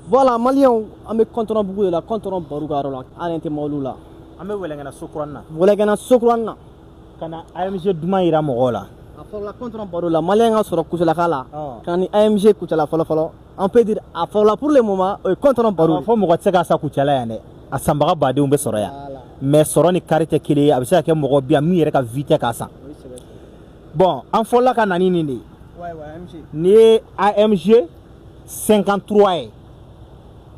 Voilà, Maliens, an bɛ kɔntɔnɔ bugu de la kɔntɔnɔ baru ka yɔrɔ la an yɛrɛ tɛ mobiliw la an bɛ wɛlɛngana sokuranin na wɛlɛngana sokuranin na ka na AMG duman jira mɔgɔw la a fɔlɔla kɔntɔnɔ baru la Malien ka sɔrɔ kucalaka la ka ni AMG kucala fɔlɔ fɔlɔ on peut dire a fɔlɔla pour le moment o ye kɔntɔnɔ baru fɔ mɔgɔ tɛ se k'a san kucala yan dɛ a sanbaga badenw bɛ sɔrɔ yan mais sɔrɔ ni kari tɛ kelen ye a bɛ se ka kɛ mɔgɔ bi yan min yɛrɛ ka vie tɛ k'a san bon an fɔlɔla ka na ni nin de ye n'i ye AMG 53 ye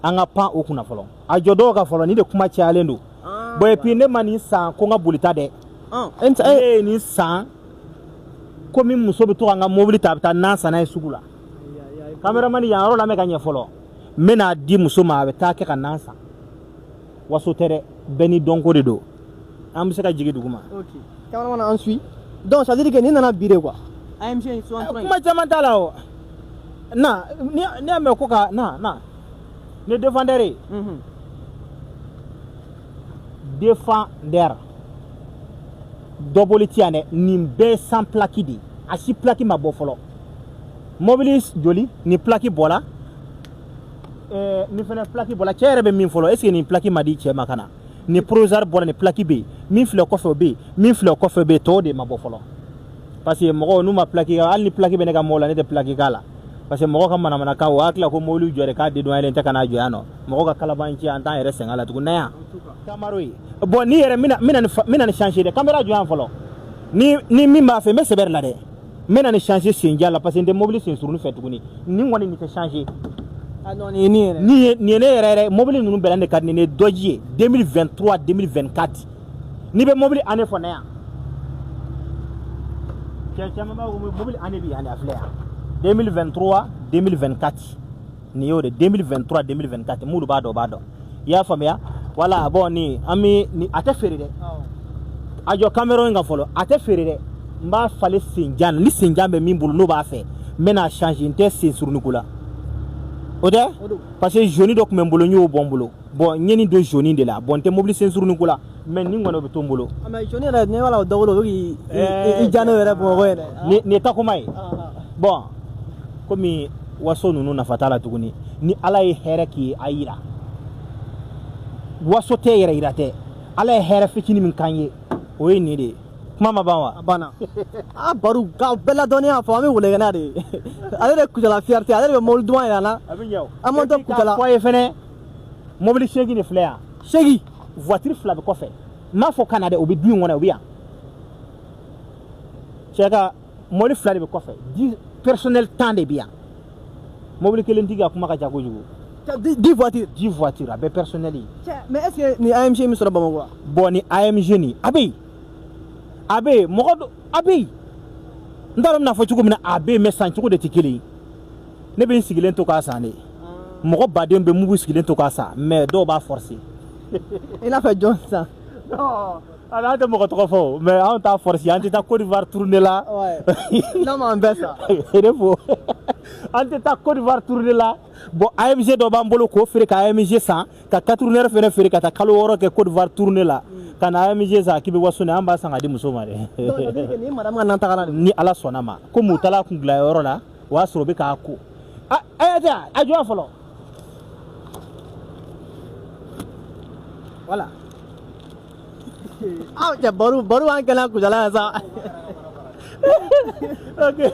an ka pan o kunna fɔlɔ a jɔ dɔw ka fɔlɔ nin de kuma cayalen don ah, bon et puis ne ma nin san ko n ka bolita dɛ ah. e ne ye nin san komi muso bɛ to ka n ka mobili ta a bɛ taa nan san n'a ye sugu la kameramani yan yɔrɔ la n bɛ ka ɲɛ fɔlɔ n bɛn'a di muso ma a bɛ taa kɛ ka nan san waso tɛ dɛ bɛɛ ni dɔnko de don an bɛ se ka jigin duguma kameramani na an suit donc ça veut dire que nin nana bi de quoi AMG eh, kuma caman t'a la o na ne y'a mɛn ko ka na na ni Defender ye mhm. Defender dɔ boli ti yan dɛ nin bɛɛ sans plaki de a si plaki ma bɔ fɔlɔ mobili joli nin plaki bɔra eh, nin fana plaki bɔra cɛ yɛrɛ bɛ min fɔlɔ est ce que nin plaki ma di cɛ ma ka na nin provisoire bɔra nin plaki bɛ yen min filɛ kɔfɛ o bɛ yen min filɛ kɔfɛ bɛ yen tɔw de ma bɔ fɔlɔ parce que mɔgɔw n'u ma plaki hali ni plaki bɛ ne ka mobili la ne tɛ plaki k'a la parce que mɔgɔ ka manamanakan o y'a tila ko mobili jɔ de k'a dedwanelen tɛ ka n'a jɔ yan nɔ mɔgɔ ka kalabanci an t'an yɛrɛ sɛgɛn la tugun na yan kameramani bɔn nin yɛrɛ n bɛna nin changer dɛ kamera jɔ yan fɔlɔ nin ni min b'a fɛ n bɛ sɛbɛ de la dɛ n bɛna nin changer senjan na parce que n tɛ mobili sen suruni fɛ tuguni nin kɔni nin tɛ changer ah nin ye ne yɛrɛ yɛrɛ mobili ninnu bɛɛ la ne ka di ne Dodge ye 2023 2024 n'i bɛ mobili année fɔ na yan cɛ caman b'a fɔ mobili année bɛ yan de a filɛ yan 2023 2024 nin y'o de 2023 2024 minnu b'a dɔn b'a dɔn i y'a faamuya wala bɔn nin an bɛ nin a tɛ feere dɛ a jɔ kamera n kan fɔlɔ a tɛ feere dɛ n b'a falen senjan na ni senjan bɛ min bolo n'o b'a fɛ n bɛ n'a changer n tɛ sen suruniko la o tɛ parce que jaune dɔ tun bɛ n bolo n y'o bɔ n bolo bɔn n ye nin don jaune de la bɔn n tɛ mobili sen suruni ko la mais nin kɔni o bɛ to n bolo ah, mais jaune yɛrɛ ne b'a la o dɔgɔlo o bɛ k'i eh, ja n'o yɛrɛ bamakɔ yɛrɛ nin ye Tacoma ye bɔn komi waso ninnu nafa t'a la tuguni ni ala ye hɛrɛ k'i a yira waso tɛ yɛrɛ yira tɛ ala ye hɛrɛ fitini min k'an ye o ye nin de ye kuma ma ban wa a banna a baru ka bɛɛ ladɔnniya fɔ an bɛ wɛlɛngana de ye ale de kucala fierté ale de bɛ mobili duman yira an na an man tɛ kucala fɔ ye fɛnɛ mobili seegin de filɛ yan seegin voiture fila bɛ kɔfɛ n m'a fɔ Canada o bɛ du in kɔnɔ o bɛ yan cɛ ka mobili fila de bɛ kɔfɛ dix personnel tan de bɛ yan mobili kelen tigi ka kuma ka ca kojugu dix voiture dix voiture a bɛɛ personnel ye mais est ce que nin amg bɛ sɔrɔ bamakɔ wa bon nin amg nin a bɛ yen a bɛ yen mɔgɔ a bɛ yen n t'a dɔn n bɛn'a fɔ cogo min na a bɛ yen mais san cogo de tɛ kelen ye ne bɛ n sigilen to k'a san de mɔgɔ baden bɛ min b'u sigilen to k'a san mais dɔw b'a forcer i n'a fɔ jɔn sisan ala an tɛ mɔgɔ tɔgɔ fɔ mais anw t'a forcer an tɛ taa Côte d'Ivoire tournée la n'a m'an bɛɛ sa e de fo an tɛ taa Côte d'Ivoire tournée la bon AMG dɔ b'an bolo k'o feere ka AMG san ka quatre runner fana feere ka taa kalo wɔɔrɔ kɛ Côte d'Ivoire tournée la hmm. ka na AMG san k'i bɛ waso ne an b'a san k'a di muso ma dɛ ni ala sɔnna ma komi u taara kun dila yɔrɔ la o y'a sɔrɔ bɛ k'a ko a y'a tɛ a jɔ fɔlɔ voilà aw cɛ baro baro b'an kɛnɛ kujala yan sa ok